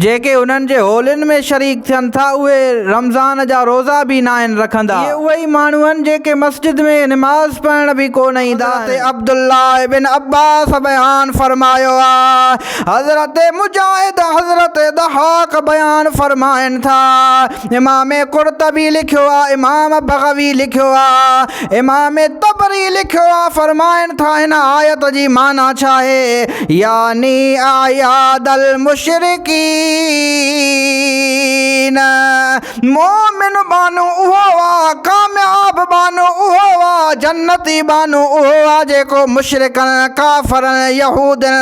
جيڪي انهن جي هولين ۾ شريڪ ٿين ٿا اهي رمضان جا روزا به ناهن رکندا. اهي اهي ئي ماڻهو آهن جيڪي مسجد ۾ نماز پڙهڻ به ڪونه ايندا آهن. حضرت عبدالله ابن عباس بيان فرمايو آ. حضرت مجاهد، حضرت ضحاڪ بيان فرمائن ٿا. امام قرطبي لکيو آ امام بغوي لکيو آ امام طبري لکيو آ فرمائن ٿا هن آيت جي معنيٰ ڇا آهي يعني اعياد المشرڪين مومن بانو اهو آ ڪامياب بانو اهو آ جنتي بانو اهو آ جيڪو مشرڪن ڪافرن يهودين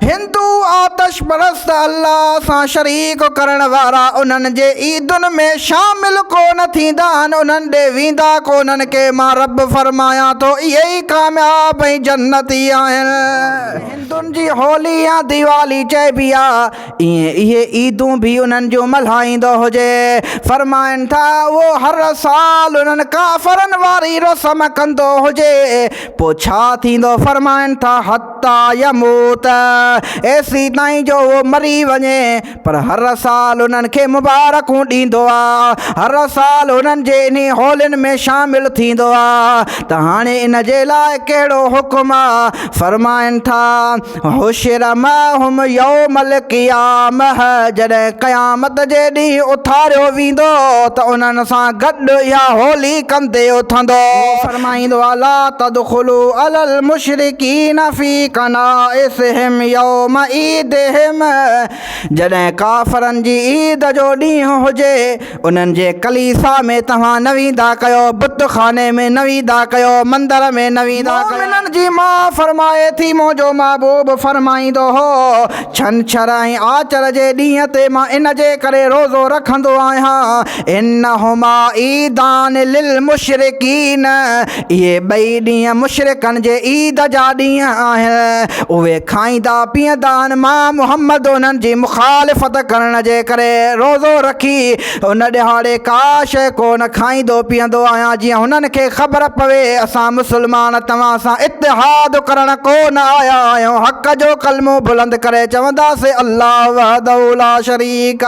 هندو آتش پرست الله سان شريڪ ڪرڻ وارا انهن جي عيدن ۾ شامل ڪو نه ٿيندا آهن، انهن ڏي ويندا ڪو نه انهن کي مان رب فرمايان ٿو اهي ئي ڪامياب ۽ جنتي آهن. هندن جي هولي يا ديوالي چئبي آهي، ايئن اهي عيدون به انهن جون ملهائيندو هجي. فرمائن ٿا اهو هر سال انهن ڪافرن واري رسم ڪندو هجي، پوء ڇا ٿيندو؟ فرمائن ٿا حت. حتيٰ يموت، ايسي تائين جو هو مري وڃي، پر هر سال انهن کي مبارڪون ڏيندو آ، هر سال انهن جي انهي هولين ۾ شامل ٿيندو آ ته هاڻي ان جي لاء ڪهڙو حڪم آ، فرمائن ٿا، حشر معهم يوم القيامة، جڏهن قيامت جي ڏينهن اٿاريو ويندو ته انهن سان گڏ اها هولي ڪندي اٿندو. فرمائيندو آهي لا تدخلو علي المشرڪين في ڪنائسهم يوم عيدهم جڏهن ڪافرن جي عيد جو ڏينهن هجي انهن جي ڪليسا ۾ توهان نه ويندا ڪيو بت خاني ۾ نه ويندا ڪيو مندر ۾ نه ويندا ڪيو. مؤمنن جي ماء فرمائي ٿي منهنجو محبوب فرمائيندو هو ڇنڇر ۽ آچر جي ڏينهن تي مان ان جي ڪري روزو رکندو آهيان انهما عيدان للمشرقين اهي ٻئي ڏينهن مشرقن جي عيد جا ڏينهن آهن اهي کائيندا پيئندا آهن مان محمد انهن جي مخالفت ڪرڻ جي ڪري روزو رکي ان ڏهاڙي ڪا شيء ڪو نه کائيندو پيئندو آهيان جيئن هنن کي خبر پوي اسان مسلمان توهان سان اتحاد ڪرڻ ڪو نه آيا آهيون حق جو ڪلمو بلند ڪري چونداسين الله وحده لا شريڪ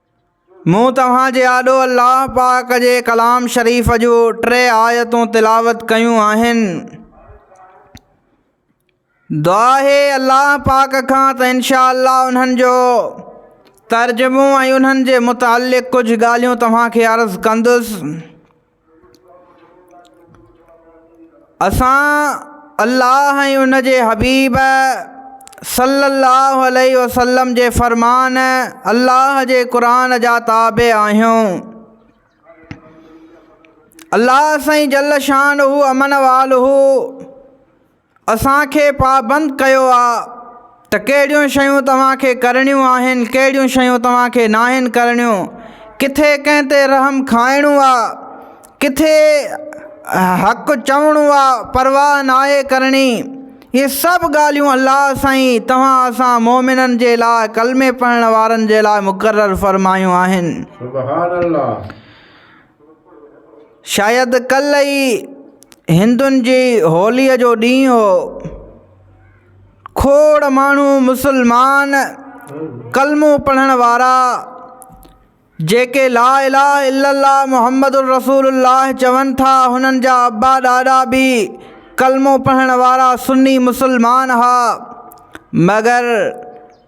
مون توهان جي آڏو الله پاڪ جي ڪلام شريف جون ٽي آيتون تلاوت ڪيون آهن. دعا آهي الله پاڪ کان ته انشاء الله انهن جو ترجمو ۽ انهن جي متعلق ڪجهه ڳالهيون توهان کي عرض ڪندس. اسان الله ۽ ان جي حبيب صلّي اللّٰه عليه وسلّم جي فرمان الله جي قرآن جا تابع آهيون. الله سائين جل شان هو امن وال هو اسان کي پابند ڪيو آ ته ڪهڙيون شيون توهان کي ڪرڻيون آهن ڪهڙيون شيون توهان کي ناهن ڪرڻيون ڪٿي ڪنهن تي رحم کائڻو آ ڪٿي حق چوڻو آ پرواهه ناهي ڪرڻي اهي سڀ ڳالهيون الله سائين توهان اسان مومنن جي لاء ڪلمي پڙهڻ وارن جي لاء مقرر فرمايون آهن. سبحان الله. شايد ڪلهه ئي هندن جي هوليء جو ڏينهن هو کوڙ ماڻهو مسلمان ڪلمو پڙهڻ وارا جيڪي لا اله الا الله محمد الرسول الله چون ٿا هنن جا ابا ڏاڏا به ڪلمو پڙهڻ وارا سني مسلمان هئا مگر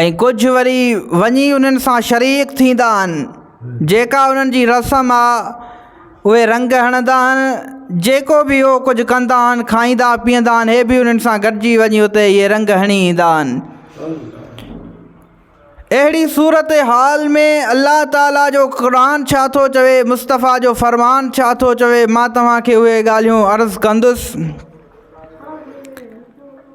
۽ ڪجهه وري وڃي انهن سان شريڪ ٿيندا آهن جيڪا انهن جي رسم آ اهي رنگ هڻندا آهن جيڪو بي اهو ڪجهه ڪندا آهن کائيندا پيئندا آهن اهي بي انهن سان گڏجي وڃي اتي اهي رنگ هڻي ايندا آهن اهڙي صورت حال ۾ الله تعالي جو قرآن ڇا ٿو چوي مصطفيٰ جو فرمان ڇا ٿو چوي مان توهان کي اهي ڳالهيون عرض ڪندس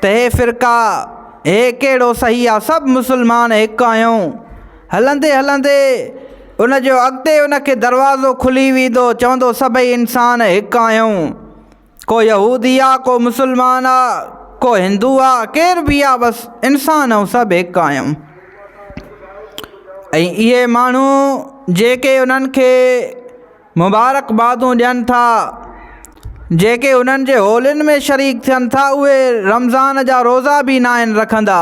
ته هي فرقا، هي ڪهڙو صحيح آ، سڀ مسلمان هڪ آهيون. هلندي هلندي ان جو اڳتي ان کي دروازو کلي ويندو، چوندو سڀئي انسان هڪ آهيون. ڪو يهودي آ، ڪو مسلمان آ، ڪو هندو آ، ڪير به آ بس انسان آهيون سڀ هڪ آهيون. ۽ اهي ماڻهو جيڪي انهن کي مبارڪبادون ڏين ٿا جيڪي انهن جي هولين ۾ شريڪ ٿين ٿا اهي رمضان جا روزا به ناهن رکندا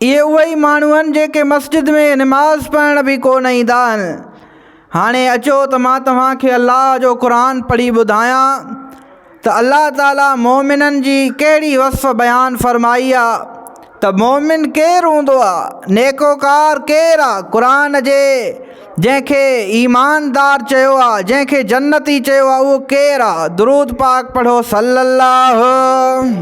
اهي اهي ئي ماڻهو آهن جيڪي مسجد ۾ نماز پڙهڻ به ڪو نه ايندا آهن هاڻي اچو ته مان توهان کي الله جو قرآن پڙهي ٻڌايان ته الله تعاليٰ مؤمنن جي ڪهڙي وصف بيان فرمائي آ ته مؤمن ڪير هوندو آ، نيڪوڪار ڪير آ، قرآن جي جنهن کي ايماندار چيو آ، جنهن کي جنتي چيو آ اهو ڪير آ، درود پاڪ پڙهو صلّي اللّٰه.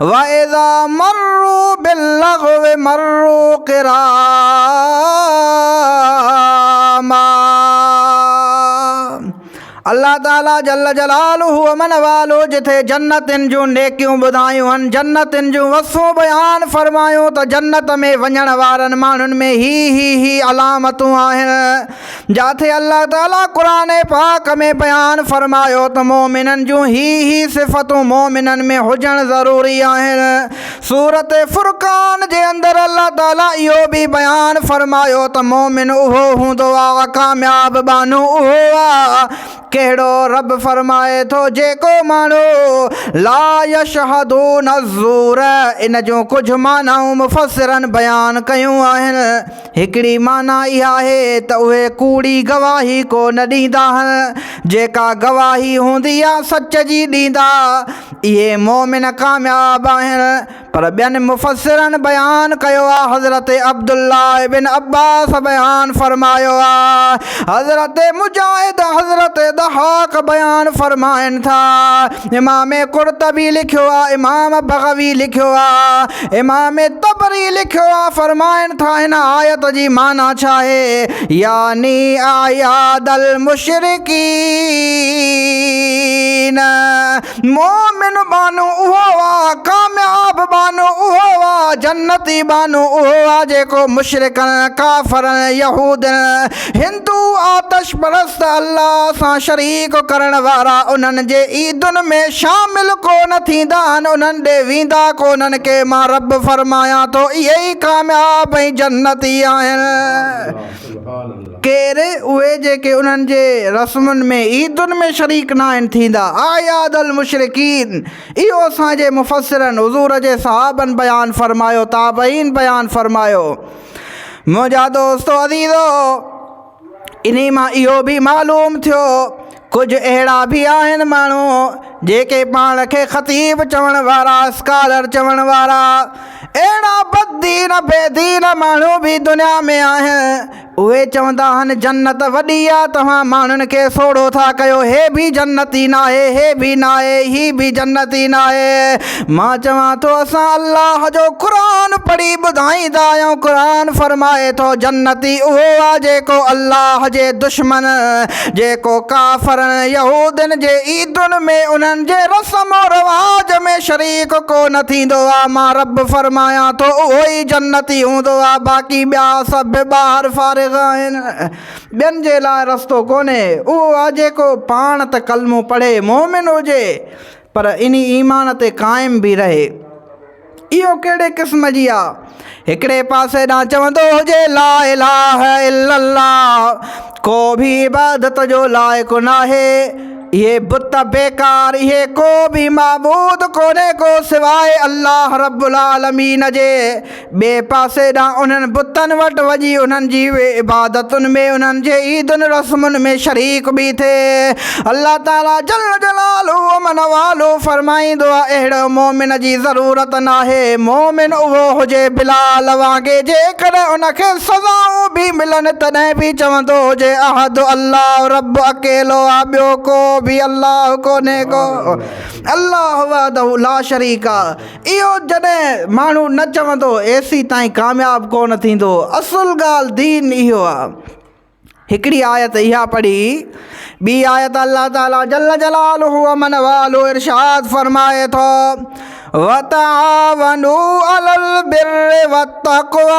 واذا مروا باللغو مروا ڪراما الله تعالي جل جلاله امن والو جٿي جنتن جون نيڪيون ٻڌايون هن جنتن جون وصفون بيان فرمايون ته جنت ۾ وڃڻ وارن ماڻهن ۾ هي هي هي علامتون آهن جاٿي الله تعالي قرآن پاڪ ۾ بيان فرمايو ته مؤمنن جون هي هي صفتون مؤمنن ۾ هجڻ ضروري آهن. سورت فرقان جي اندر الله تعالي اهو به بيان فرمايو ته مؤمن اهو هوندو آ ڪامياب ٻانهو اهو آ ڪهڙو رب فرمائي ٿو جيڪو ماڻهو لا يشهدون الزور ان جون ڪجهه معنائون مفسرن بيان ڪيون آهن. هڪڙي معنيٰ اها آهي ته اهي ڪوڙي گواهي ڪو نه ڏيندا آهن، جيڪا گواهي هوندي آ سچ جي ڏيندا. اهي مؤمن ڪامياب آهن. پر ٻين مفسرن بيان ڪيو آ حضرت عبدالله ابن عباس بيان فرمايو آ، حضرت مجاهد، حضرت ضحاڪ بيان فرمائن ٿا. امام قرطبي لکيو آ امام بغوي لکيو آ امام طبري لکيو آ فرمائن ٿا هن آيت جي معنيٰ ڇا آهي يعني اعياد المشرڪين مومن بانو اهو آ ڪامياب بانو اهو آ جنتي بانو اهو آ جيڪو مشرڪن ڪافرن يهودين هندو آتش پرست الله سان شريڪ ڪرڻ وارا انهن جي عيدن ۾ شامل ڪو نه ٿيندا آهن، انهن ڏي ويندا ڪو نه انهن کي مان رب فرمايان ٿو اهي ئي ڪامياب ۽ جنتي آهن. ڪير اهي جيڪي انهن جي رسمن ۾ عيدن ۾ شريڪ ناهن ٿيندا اعياد المشرڪين اهو اسان جي مفسرن حضور جي صحابن بيان فرمايو تابعين بيان فرمايو. منهنجا دوستو عزيزو انهي مان اهو به معلوم ٿيو ڪجهه اهڙا به آهن ماڻهو جيڪي پاڻ کي خطيب چوڻ وارا اسڪالر چوڻ وارا اهڙا بددين بيدين ماڻهو به دنيا ۾ آهن اهي چوندا آهن جنت وڏي آ توهان ماڻهن کي سوڙهو ٿا ڪيو هي به جنتي ناهي هي به ناهي هي به جنتي ناهي مان چوان ٿو اسان الله جو قرآن پڙهي ٻڌائيندا آهيون قرآن فرمائي ٿو جنتي اهو آ جيڪو الله جي دشمن جيڪو ڪافرن يهودين جي عيدن ۾ انهن جي رسم و رواج ۾ شريڪ ڪو نه ٿيندو آ مان رب فرمايان ٿو اهو ئي جنتي هوندو آ باقي ٻيا سڀ ٻاهر فارغ آهن ٻين جي لاء رستو ڪونهي اهو آ جيڪو پاڻ ته ڪلمو پڙهي مؤمن هجي پر انهي ايمان تي قائم به رهي. اهو ڪهڙي قسم جي آ؟ هڪڙي پاسي ڏانهن چوندو هجي لا اله الا الله ڪو به عبادت جو لائق ناهي، اهي بت بيڪار، اهي ڪو به معبود ڪونهي ڪو سواء الله رب العالمين جي، ٻئي پاسي ڏانهن انهن بتن وٽ وڃي انهن جي عبادتن ۾ انهن جي عيدن رسمن ۾ شريڪ به ٿئي. الله تعاليٰ جل جلاله امن والو فرمائيندو آهي اهڙي مؤمن جي ضرورت ناهي، مؤمن اهو هجي بلال وانگي جيڪڏهن ان کي سزائون به ملن تڏهن به چوندو هجي احد الله رب اڪيلو آهي ٻيو ڪو به الله ڪونهي ڪو الله وحده لا شريڪ. اهو جڏهن ماڻهو نه چوندو ايسي تائين ڪامياب ڪونه ٿيندو اصل ڳالهه دين اهو آهي هڪڙي آيت اها پڙهي ٻي آيت الله تعالٰي جل جلاله امن والو ارشاد فرمائي ٿو وتعاونو علل بر وتقوا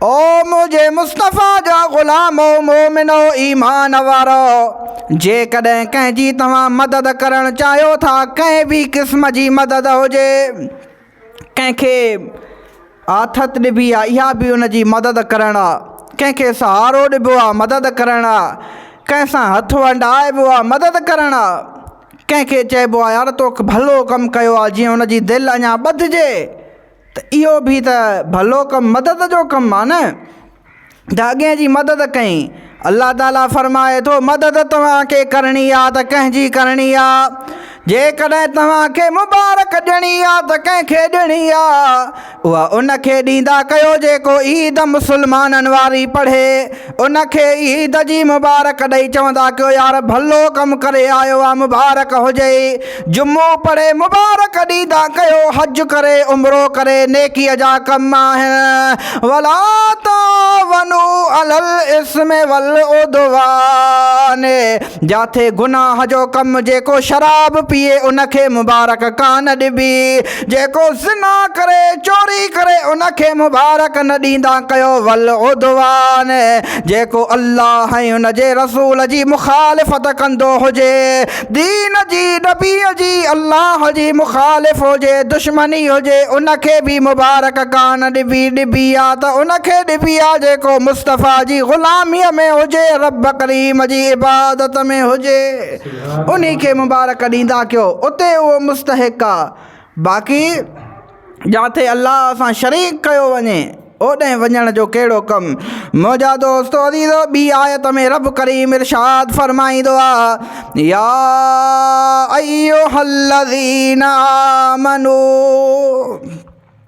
او منهنجي مصطفيٰ جا غلامو مؤمنو ايمان وارؤ! جيڪڏهن ڪنهن جي توهان مدد ڪرڻ چاهيو ٿا، ڪنهن به قسم جي مدد هجي، ڪنهن کي آٿت ڏبي آهي اها به ان جي مدد ڪرڻ آهي، ڪنهن کي سهارو ڏبو آهي مدد ڪرڻ آهي، ڪنهن سان هٿ ونڊائبو آهي مدد ڪرڻ آهي، ڪنهن کي چئبو آهي يار توڪ ڀلو ڪم ڪيو آهي جيئن ان جي دل اڃا ٻڌجي. ته اهو به ته ڀلو ڪم مدد جو ڪم آهي نه ته اڳئين جي مدد ڪئين. الله تعالي فرمائي ٿو، مدد توهان کي ڪرڻي آهي ته ڪنهن جي ڪرڻي آهي؟ جيڪڏهن توهان کي مبارڪ ڏيڻي آهي ته ڪنهن کي ڏيڻي آهي؟ اها ان کي ڏيندا ڪيو جيڪو عيد مسلمانن واري پڙهي. ان کي عيد جي مبارڪ ڏئي چوندا ڪيو يار ڀلو ڪم ڪري آيو آ مبارڪ هجئي جمعو پڙهي مبارڪ ڏيندا ڪيو حج ڪري عمرو ڪري نيڪي جا ڪم آهن ولا تعاونو علي الاسم والعدوان جاٿي گناهه جو ڪم جيڪو شراب پيئي ان کي مبارڪ ڪانه ڏبي جيڪو زنا ڪري، چوري ڪري، ان کي مبارڪ نه ڏيندا ڪيو والعدوان، جيڪو الله ۽ ان جي رسول جي مخالفت ڪندو هجي، دين جي، نبيء جي، الله جي مخالف هجي، دشمني هجي، ان کي به مبارڪ ڪانه ڏبي، ڏبي ها ته ان کي ڏبي ها جيڪو مصطفيٰ جي غلاميء ۾ هجي، رب ڪريم جي عبادت ۾ هجي. انهي کي مبارڪ ڏيندا ڪيو اتي اهو مستحق آ باقي جاٿي الله سان شريڪ ڪيو وڃي اوڏهين وڃڻ جو ڪهڙو ڪم منهنجا دوستو عزيزو ٻي آيت ۾ رب ڪريم ارشاد فرمائيندو آ يا ايها الذين آمنو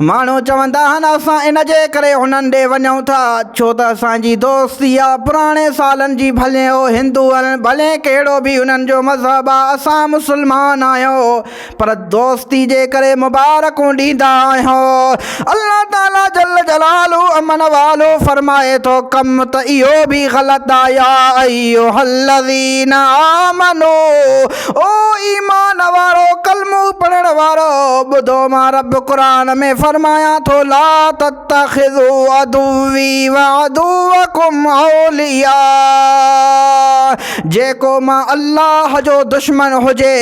ماڻهو چوندا آهن اسان ان جي ڪري انهن ڏي وڃون ٿا ڇو ته اسان جي دوستي آ پراڻي سالن جي ڀلين هو هندو هن ڀلين ڪهڙو به انهن جو مذهب آ اسان مسلمان آهيون پر دوستي جي ڪري مبارڪون ڏيندا آهيون الله تعالي جل جلاله امن والو فرمائي ٿو ڪم ته اهو به غلط آ يا ايها الذين آمنوا او ايمان وارؤ! ڪلمو پڙهڻ وارؤ! ٻڌو مان رب قرآن ۾ فرمايان ٿو، لا تتخذو عدوي وعدوڪم اولياء جيڪو مان الله جو دشمن هجي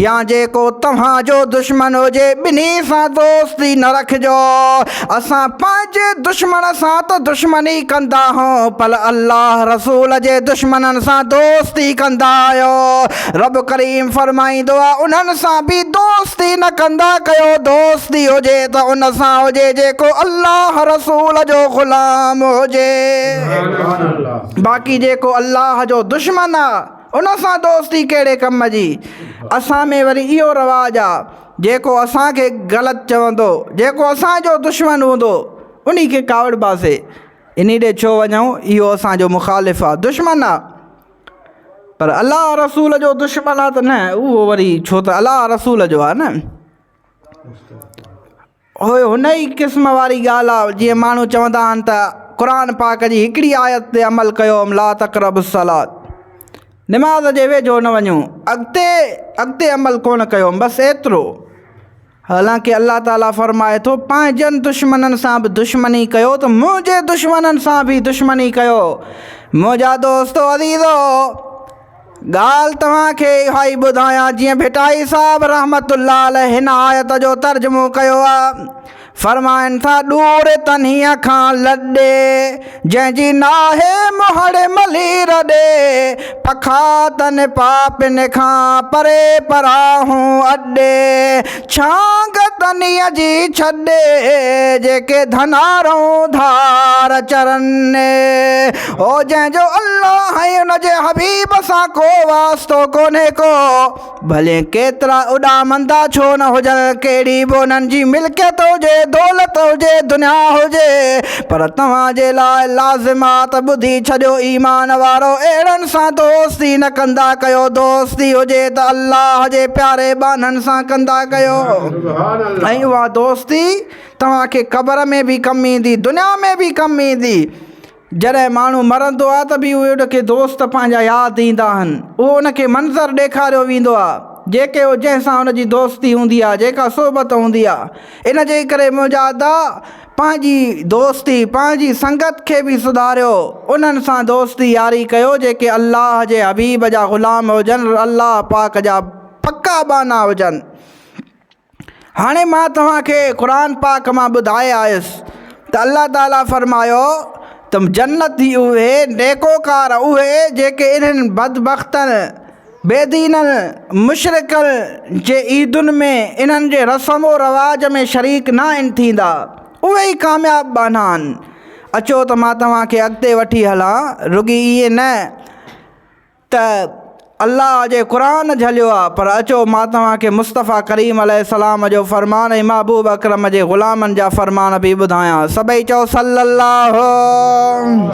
يا جيڪو توهان جو دشمن هجي ٻنهي سان دوستي نه رکجو اسان پنهنجي دشمن سان ته دشمني ڪندا هون پر الله رسول جي دشمنن سان دوستي ڪندا آهيو. رب ڪريم فرمائيندو آهي انهن سان به دوستي نه ڪندا ڪيو دوستي هجي ته ان سان هجي جيڪو الله رسول جو غلام هجي باقي جيڪو الله جو دشمن آهي ان سان دوستي ڪهڙي ڪم جي اسان ۾ وري اهو رواج آهي جيڪو اسان کي غلط چوندو، جيڪو اسان جو دشمن هوندو، انهي کي ڪاوڙباسين. انهي ڏي ڇو وڃون؟ اهو اسان جو مخالف آ، دشمن آ. پر الله ۽ رسول جو دشمن آ ته نه، اهو وري ڇو ته الله ۽ رسول جو آ نه. هيء هن ئي قسم واري ڳالهه آهي، جيئن ماڻهو چوندا آهن ته قرآن پاڪ جي هڪڙي آيت تي عمل ڪيو هم لا تقربوا الصلات نماز جي ويجهو نه وڃو اڳتي اڳتي عمل ڪونه ڪيو هم بس ايترو حالانڪه الله تعاليٰ فرمائي ٿو پنهنجن دشمنن سان به دشمني ڪيو ته منهنجي دشمنن سان به دشمني ڪيو منهنجا دوستو عزيزو! ڳالهه توهان کي اها ئي ٻڌايان جيئن ڀٽائي صاحب رحمة الله عليه هن آيت جو ترجمو ڪيو آ. فرمائن ٿا ڏور تنهيء کان لڏي، جنهن جي ناهي مهڙ ملي رڏي، پکا تن پاپين کان پري پراهون اڏي. ڇانگ تنيء جي ڇڏ، جيڪي ڌنارون ڌار چرن. هو جنهن جو الله ۽ ان جي حبيب سان ڪو واسطو ڪونهي ڪو، ڀلي ڪيترا اڏامندا ڇو نه هجن، ڪهڙي به انهن جي ملڪيت هجي، دولت هجي، دنيا هجي، پر توهان جي لاء لازم آ ته ٻڌي ڇڏيو ايمان وارؤ اهڙن سان دوستي نه ڪندا ڪيو دوستي هجي ته الله جي پياري ٻانهن سان ڪندا ڪيو ۽ اها دوستي توهان کي قبر ۾ به ڪم ايندي دنيا ۾ به ڪم ايندي جڏهن ماڻهو مرندو آ ته به اهي ان کي دوست پنهنجا ياد ايندا آهن اهو ان کي منظر ڏيکاريو ويندو آ جيڪي جنهن سان ان جي دوستي هوندي آ جيڪا صحبت هوندي آ ان جي ڪري منهنجا ادا پنهنجي دوستي، پنهنجي سنگت کي به سڌاريو، انهن سان دوستي ياري ڪيو جيڪي الله جي حبيب جا غلام هجن، الله پاڪ جا پڪا ٻانها هجن. هاڻي مان توهان کي قرآن پاڪ مان ٻڌائي آيس ته الله تعالي فرمايو ته جنتي اهي نيڪوڪار اهي جيڪي انهن بدبختن، بي دينن، مشرڪن، جي عيدن ۾ انهن جي رسم و رواج ۾ شريڪ نه آهن ٿيندا. اهي ئي ڪامياب ٻانها آهن. اچو ته مان توهان کي اڳتي وٺي هلان. رڳي ائين نه ته الله جي قرآن جهليو آهي پر اچو مان توهان کي مصطفيٰ ڪريم عليه السلام جو فرمان ۽ محبوب اڪرم جي غلامن جا فرمان به ٻڌايان. سڀئي چئو صلّي اللّٰه!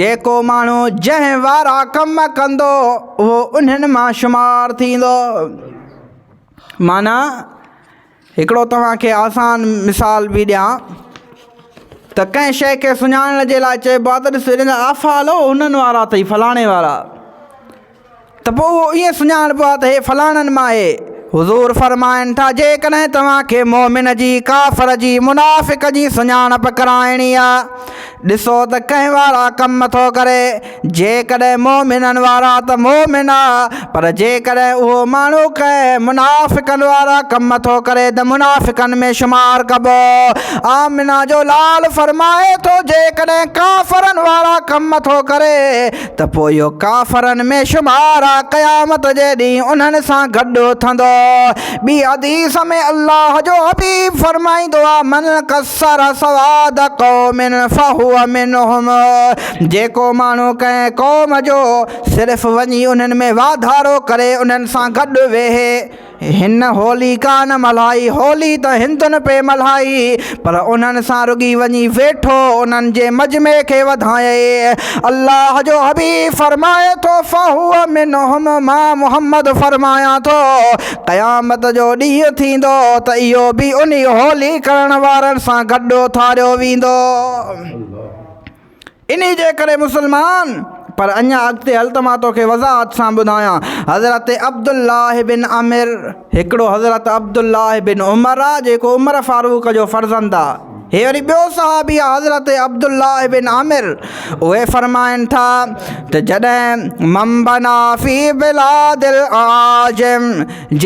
جيڪو ماڻهو جنهن وارا ڪم ڪندو اهو انهن مان شمار ٿيندو معنيٰ هڪڙو توهان کي آسان مثال به ڏيان ته ڪنهن شيء کي سڃاڻڻ جي لاء چئبو آهي ته ڏس هيڏانهن آفا هلو هنن وارا اٿئي فلاڻي وارا ته پوء اهو ائين سڃاڻبو آهي ته هي فلاڻن مان آهي. حضور فرمائن ٿا، جيڪڏهن توهان کي مؤمن جي، ڪافر جي، منافق جي سڃاڻپ ڪرائڻي آهي، ڏسو ته ڪنهن وارا ڪم ٿو ڪري، جيڪڏهن مؤمنن وارا ته مؤمن آ، پر جيڪڏهن اهو ماڻهو ڪنهن منافقن وارا ڪم ٿو ڪري ته منافقن ۾ شمار ڪبو. آمنه جو لال فرمائي ٿو، جيڪڏهن ڪافرن وارا ڪم ٿو ڪري، ته پوء اهو ڪافرن ۾ شمار آ قيامت جي ڏينهن انهن سان گڏ اٿندو. ٻي حديث ۾ الله جو حبيب فرمائيندو آ، من قصر سواد قوم فهو منهم جيڪو ماڻهو ڪنهن قوم جو صرف وڃي انهن ۾ واڌارو ڪري انهن سان گڏ ويهي، هن هولي ڪا نه ملهائي، هولي ته هندن پئي ملهائي، پر انهن سان رڳي وڃي ويٺو، انهن جي مجمعي کي وڌايئي. الله جو حبيب فرمائي ٿو، فهو منهم مان محمد فرمايان ٿو، قيامت جو ڏينهن ٿيندو ته اهو به انهي هولي ڪرڻ وارن سان گڏ اٿاريو ويندو. انهي جي ڪري مسلمان! پر اڃا اڳتي هل ته مان توکي وضاحت سان ٻڌايان. حضرت عبدالله بن عمر، هڪڙو حضرت عبدالله بن عمر آ جيڪو عمر فاروق جو فرزند آ. هي وري ٻيو صحابي آ حضرت عبدالله بن عمر اهي فرمائن ٿا ته جڏهن من بنا في بلاد الاعاجم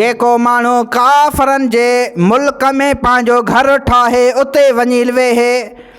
جيڪو ماڻهو ڪافرن جي ملڪ ۾ پنهنجو گهر ٺاهي اتي وڃي ويهي،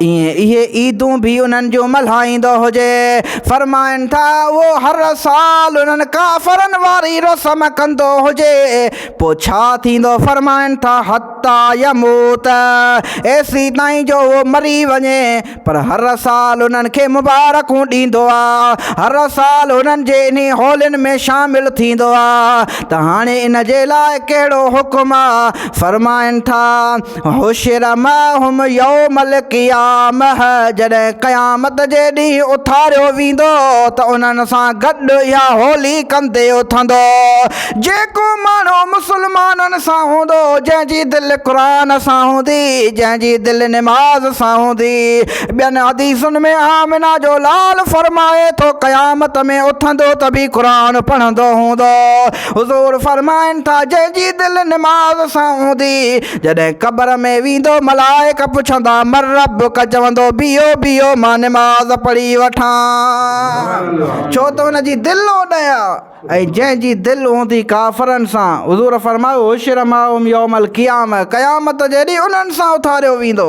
ائين اهي عيدون به انهن جون ملهائيندو هجي. فرمائن ٿا اهو هر سال انهن ڪافرن واري رسم ڪندو هجي. پوء ڇا ٿيندو؟ فرمائن ٿا حتيٰ يموت، ايسي تائين جو اهو مري وڃي. پر هر سال انهن کي مبارڪون ڏيندو آ. هر سال انهن جي انهي هولين ۾ شامل ٿيندو آ. ته هاڻي ان جي لاء ڪهڙو حڪم آ؟ فرمائن ٿا. حشر معهم يوم القيامه جڏهن قيامت جي ڏينهن اٿاريو ويندو ته انهن سان گڏ اها هولي ڪندي اٿندو جيڪو ماڻهو مسلمانن سان هوندو جنهن جي دل قرآن سان هوندي جنهن جي دل نماز سان هوندي ٻين حديثن ۾ آمنه جو لال فرمائي ٿو قيامت ۾ اٿندو ته به قرآن پڙهندو هوندو حضور فرمائن ٿا جنهن جي دل نماز سان هوندي جڏهن قبر ۾ ويندو ملائڪ پڇندا من ربک چوندو بيهو بيهو مان نماز پڙهي وٺان ڇو ته هن جي دل اوڏهن آ ۽ جنهن جي دل هوندي ڪافرن سان حضور فرمايو حشر معهم يوم القيامة قيامت جي ڏينهن انهن سان اٿاريو ويندو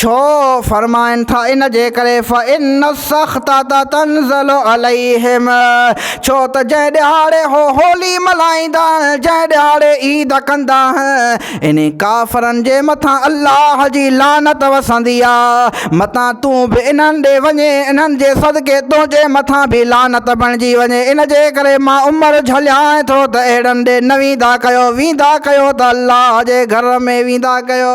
ڇو فرمائن ٿا ان جي ڪري فإن السخطة تنزل عليهم ڇو ته جنهن ڏهاڙي هو هولي ملهائيندا جنهن ڏهاڙي عيد ڪندا انهي ڪافرن جي مٿان الله جي لعنت وسندي آ متان تون به انهن ڏي وڃين انهن جي صدقي تنهنجي مٿان به لعنت بڻجي وڃي ان جي ڪري مان عمر جهليانء ٿو ته اهڙن ڏي نه ويندا ڪيو ويندا ڪيو ته الله جي گهر ۾ ويندا ڪيو.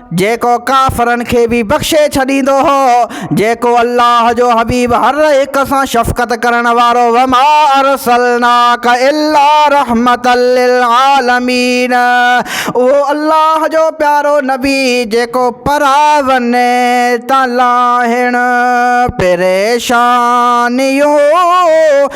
جيڪو ڪافرن کي به بخشي ڇڏيندو هو، جيڪو الله جو حبيب هر هڪ سان شفقت ڪرڻ وارو وما ارسلناک الا رحمة للعالمين اهو الله جو پيارو نبي جيڪو پراون تان لاهڻ پريشانيون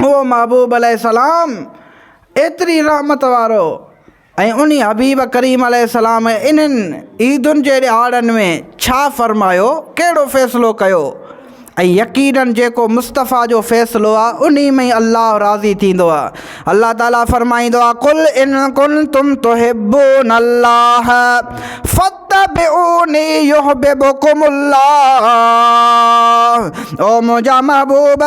اهو محبوب عليه السلام ايتري رحمت وارو ۽ انهي حبيب ڪريم عليه السلام انهن عيدن جي ڏهاڙن ۾ ڇا فرمايو، ڪهڙو فيصلو ڪيو ۽ يقيناً جيڪو مصطفيٰ جو فيصلو آهي انهي ۾ ئي الله راضي ٿيندو آهي. الله تعاليٰ فرمائيندو آهي، قل ان ڪنتم تحبون الله فت. اتبعوني يحببڪم الله او منهنجا محبوب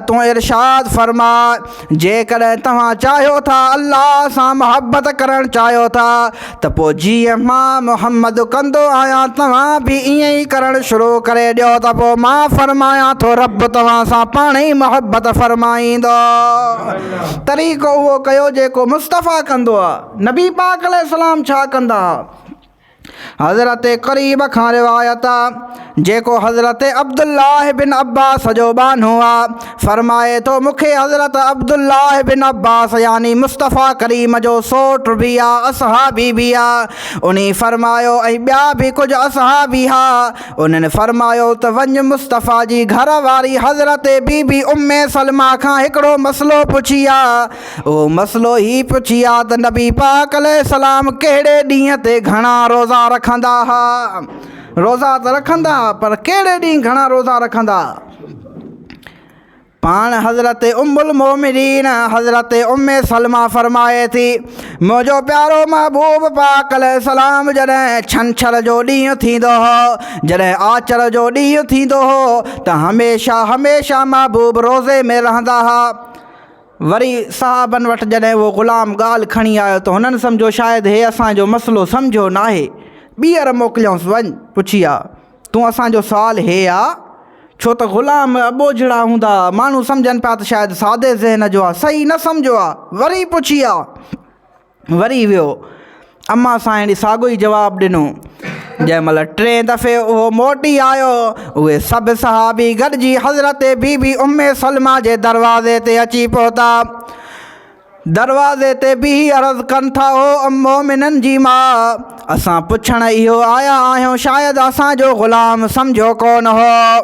تون ارشاد فرماء جيڪڏهن توهان چاهيو ٿا الله سان محبت ڪرڻ چاهيو ٿا ته پوء جيئن مان محمد ڪندو آهيان توهان به ائين ئي ڪرڻ شروع ڪري ڏيو ته پوء مان فرمايان ٿو رب توهان سان پاڻ ئي محبت فرمائيندو. طريقو اهو ڪيو جيڪو مصطفيٰ ڪندو هو. نبي پاڪ عليه السلام ڇا ڪندا هئا؟ حضرت قريب کان روايت آ جيڪو حضرت عبدالله بن عباس جو ٻانهو آ فرمائي ٿو مون کي حضرت عبدالله بن عباس يعني مصطفيٰ ڪريم جو سوٽ به آ اصحابي به آ انهي فرمايو ۽ ٻيا به ڪجهه اصحابي ها انهن فرمايو ته وڃ مصطفيٰ جي گهر واري حضرت بي بي ام سلميٰ کان هڪڙو مسئلو پڇي آ اهو مسئلو هي پڇي ها ته نبي پاڪ عليه السلام ڪهڙي ڏينهن تي گهڻا روزا رکندا ها؟ روزا ته رکندا ها پر ڪهڙي ڏينهن گهڻا روزا رکندا ها؟ پاڻ حضرت ام المومنين حضرت ام سلمه فرمائي ٿي منهنجو پيارو محبوب پاڪ عليه السلام جڏهن ڇنڇر جو ڏينهن ٿيندو هو جڏهن آچر جو ڏينهن ٿيندو هو ته هميشه هميشه محبوب روزي ۾ رهندا ها وري صحابن وٽ جڏهن اهو غلام ڳالهه کڻي آيو ته هنن سمجهيو شايد هي اسان جو مسئلو سمجهيو ناهي. ٻيهر موڪليائونس وڃ پڇي آء. تون اسان جو سوال هي آء؟ ڇو ته غلام اٻوجهڙا هوندا آء. ماڻهو سمجهن پيا ته شايد سادي ذهن جو آء. صحيح نه سمجهيو آء. وري پڇي آء. وري ويو. امان سائيڻ ساڳيو ئي جواب ڏنو. جنهن مهل ٽئين دفعي اهو موٽي آيو، اهي سڀ صحابي گڏجي حضرت بي بي ام سلمه جي دروازي تي اچي پهتا. دروازي تي بيهي عرض ڪن ٿا، او ام مومنن جي ماء! اسان پڇڻ اهو آيا آهيون شايد اسان جو غلام سمجهيو ڪونه هو.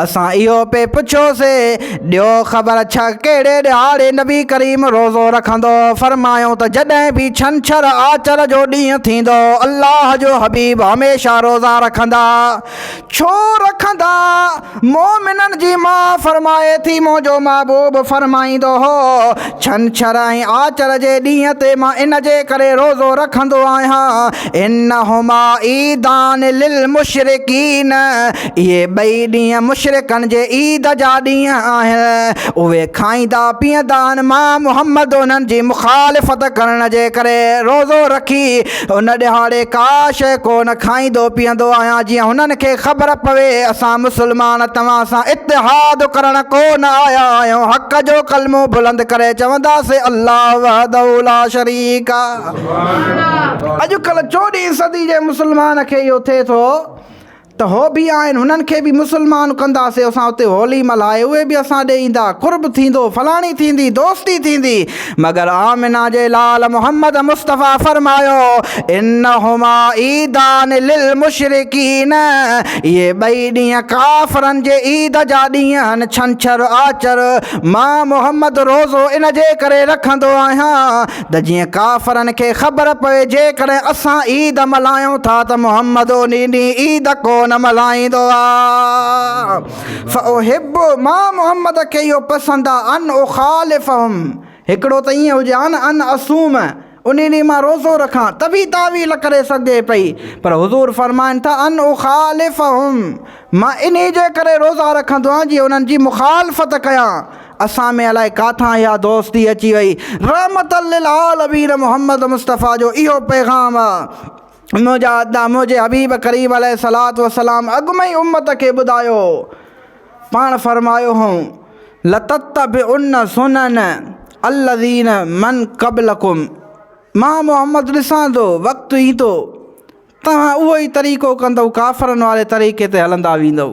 اسان اهو پئي پڇيو سي، ڏيو خبر ڇهه ڪهڙي ڏهاڙي نبي ڪريم روزو رکندو؟ فرمايائون ته جڏهن به ڇنڇر آچر جو ڏينهن ٿيندو الله جو حبيب هميشه روزا رکندا. ڇو رکندا؟ مؤمنن جي ماء فرمائي ٿي، منهنجو محبوب فرمائيندو هو، ڇنڇر ۽ آچر جي ڏينهن تي مان ان جي ڪري روزو رکندو آهيان، انهما عيدان للمشرڪين، اهي ٻئي ڏينهن مشرڪن جي عيد جا ڏينهن آهن، اهي کائيندا پيئندا آهن، مان محمد انهن جي مخالفت ڪرڻ جي ڪري روزو رکي ان ڏهاڙي ڪا شيء ڪو نه کائيندو پيئندو آهيان جيئن هنن کي خبر پوي اسان مسلمان توهان سان اتحاد ڪرڻ ڪو نه آيا آهيون حق جو ڪلمو بلند ڪري چونداسين الله وحده لا شريڪ اڄ ڪلهه چوڏهين صدي جي مسلمان کي اهو ٿئي ٿو ته هو به آهن هنن کي به مسلمان ڪنداسين اسان اتي هولي ملهائي اهي به اسان ڏي ايندا قرب ٿيندو فلاڻي ٿيندي دوستي ٿيندي مگر آمنه جي لال محمد مصطفيٰ فرمايو انهما عيدان للمشرڪين اهي ٻئي ڏينهن ڪافرن جي عيد جا ڏينهن آهن ڇنڇر آچر مان محمد روزو ان جي ڪري رکندو آهيان ته جيئن ڪافرن کي خبر پوي جيڪڏهن اسان عيد ملهايون ٿا ته محمد انهي ڏينهن عيد ڪو نه ملهائيندو آ فاحب مان محمد کي اهو پسند آ ان اخالفهم هڪڙو ته ائين هجي ها نه ان اصوم انهي ڏينهن مان روزو رکان ته به تاويل ڪري سگهجي پئي پر حضور فرمائن ٿا ان اخالفهم مان انهي جي ڪري روزا رکندو آهيان جيئن انهن جي مخالفت ڪيان اسان ۾ الائي ڪاٿان اها دوستي اچي وئي. رحمت للعالمين محمد مصطفيٰ جو اهو پيغام آ منهنجا ادا منهنجي حبيب ڪريم عليه الصلوة والسلام اڳ ۾ ئي امت کي ٻڌايو هو. پاڻ فرمايو هئون، لتتبعن سنن الذين من قبلكم مان محمد ڏسان ٿو وقت ايندو توهان اهو ئي طريقو ڪندؤ ڪافرن واري طريقي تي هلندا ويندؤ.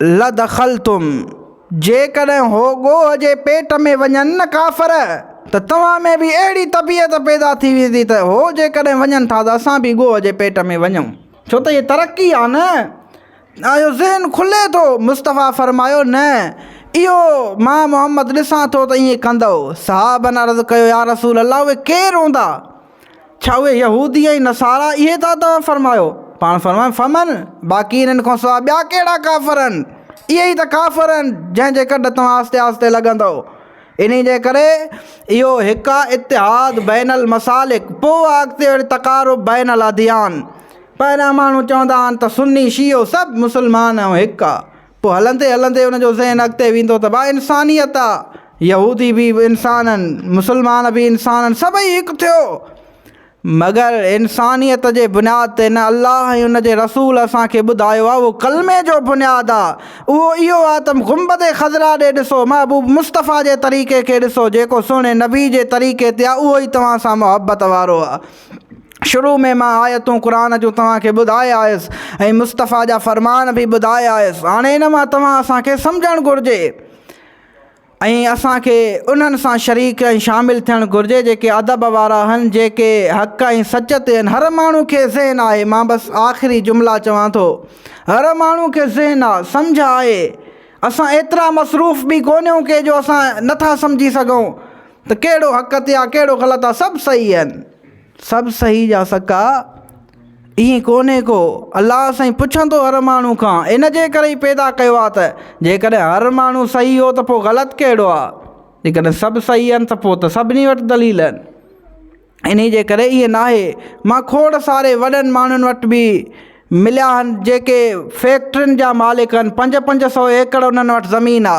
لدخلتم، جيڪڏهن هو ڳوهه جي پيٽ ۾ وڃن نه ڪافر ته توهان ۾ به اهڙي طبيعت پيدا ٿي ويندي ته هو جيڪڏهن وڃن ٿا ته اسان به ڳوهه جي پيٽ ۾ وڃون. ڇو ته هي ترقي آهي نه. اهو ذهن کلي ٿو. مصطفيٰ فرمايو، نه، اهو مان محمد ڏسان ٿو ته ائين ڪندؤ. صحابن عرض ڪيو، يا رسول الله اهي ڪير هوندا؟ ڇا اهي يهودي ۽ نصارا اهي ٿا توهان فرمايو؟ پاڻ فرمايو فمن، باقي انهن کان سواء ٻيا ڪهڙا ڪافر آهن؟ اهي ئي ته ڪافر آهن جنهن جي ڪڍ توهان آهستي آهستي لڳندؤ. انهي جي ڪري اهو هڪ آهي اتحاد بين المسالڪ پوء آهي اڳتي وري تقارب بين الاديان. پهريان ماڻهو چوندا آهن ته سني شيعو سڀ مسلمان آهيون هڪ آهي. پوء هلندي هلندي ان جو ذهن اڳتي ويندو ته واهه انسانيت آ، يهودي به انسان آهن، مسلمان به انسان آهن، سڀئي هڪ ٿيو. مگر انسانيت جي بنياد تي نه الله ۽ ان جي رسول اسان کي ٻڌايو آ اهو ڪلمي جو بنياد آ، اهو اهو آ ته گنبد خضراء ڏي ڏسو، محبوب مصطفيٰ جي طريقي کي ڏسو، جيڪو سهڻي نبي جي طريقي تي آ اهو ئي توهان سان محبت وارو آ. شروع ۾ مان آيتون قرآن جون توهان کي ٻڌائي آيس ۽ مصطفيٰ جا فرمان به ٻڌائي آيس. هاڻي ان مان توهان اسان کي سمجهڻ گهرجي ۽ اسان کي انهن سان شريڪ ۽ شامل ٿيڻ گهرجي جيڪي ادب وارا هن جيڪي حق ۽ سچ تي هن. هر ماڻهو کي ذهن آهي مان بس آخري جملا چوان ٿو هر ماڻهو کي ذهن آ سمجهه آهي اسان ايترا مصروف به ڪونهيون ڪي جو اسان نٿا سمجهي سگهون ته ڪهڙو حق تي آ ڪهڙو غلط آ سڀ صحيح هن. سڀ سهي جا سڪا ائين ڪونهي ڪو الله سائين پڇندو هر ماڻهو کان ان جي ڪري ئي پيدا ڪيو آ ته جيڪڏهن هر ماڻهو سهي هو ته پوء غلط ڪهڙو آ جيڪڏهن سڀ سهي آهن ته پوء ته سڀني وٽ دليل آهن انهي جي ڪري ائين ناهي مان کوڙ ساري وڏن ماڻهن وٽ به مليا آهن جيڪي فيڪٽرين جا مالڪ آهن پنج پنج سو ايڪڙ انهن وٽ زمين آ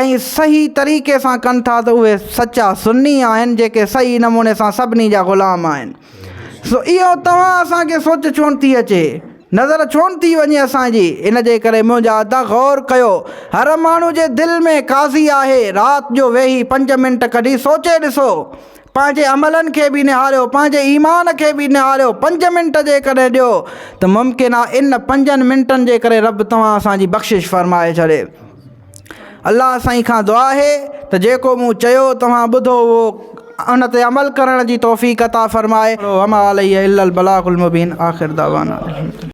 ۽ صحيح طريقي سان ڪن ٿا ته اهي سچا سني آهن جيڪي صحيح نموني سان سڀني جا غلام آهن سو اهو توهان اسان کي سوچ ڇو نه ٿي اچي نظر ڇو نه ٿي وڃي اسان جي ان جي ڪري منهنجا ادا غور ڪيو هر ماڻهو جي دل ۾ قاضي آهي رات جو ويهي پنج منٽ ڪڍي سوچي ڏسو پنهنجي عملن کي به نهاريو پنهنجي ايمان کي به نهاريو پنج منٽ جيڪڏهن ڏيو ته ممڪن آهي ان پنجن منٽن جي ڪري رب توهان اسان جي بخشش فرمائي ڇڏي الله سائين کان دعا آهي ته جيڪو مون چيو توهان ٻڌو اهو ان تي عمل ڪرڻ جي توفيق عطا فرمائي وما علي الا البلاغ المبين آخر دعوانا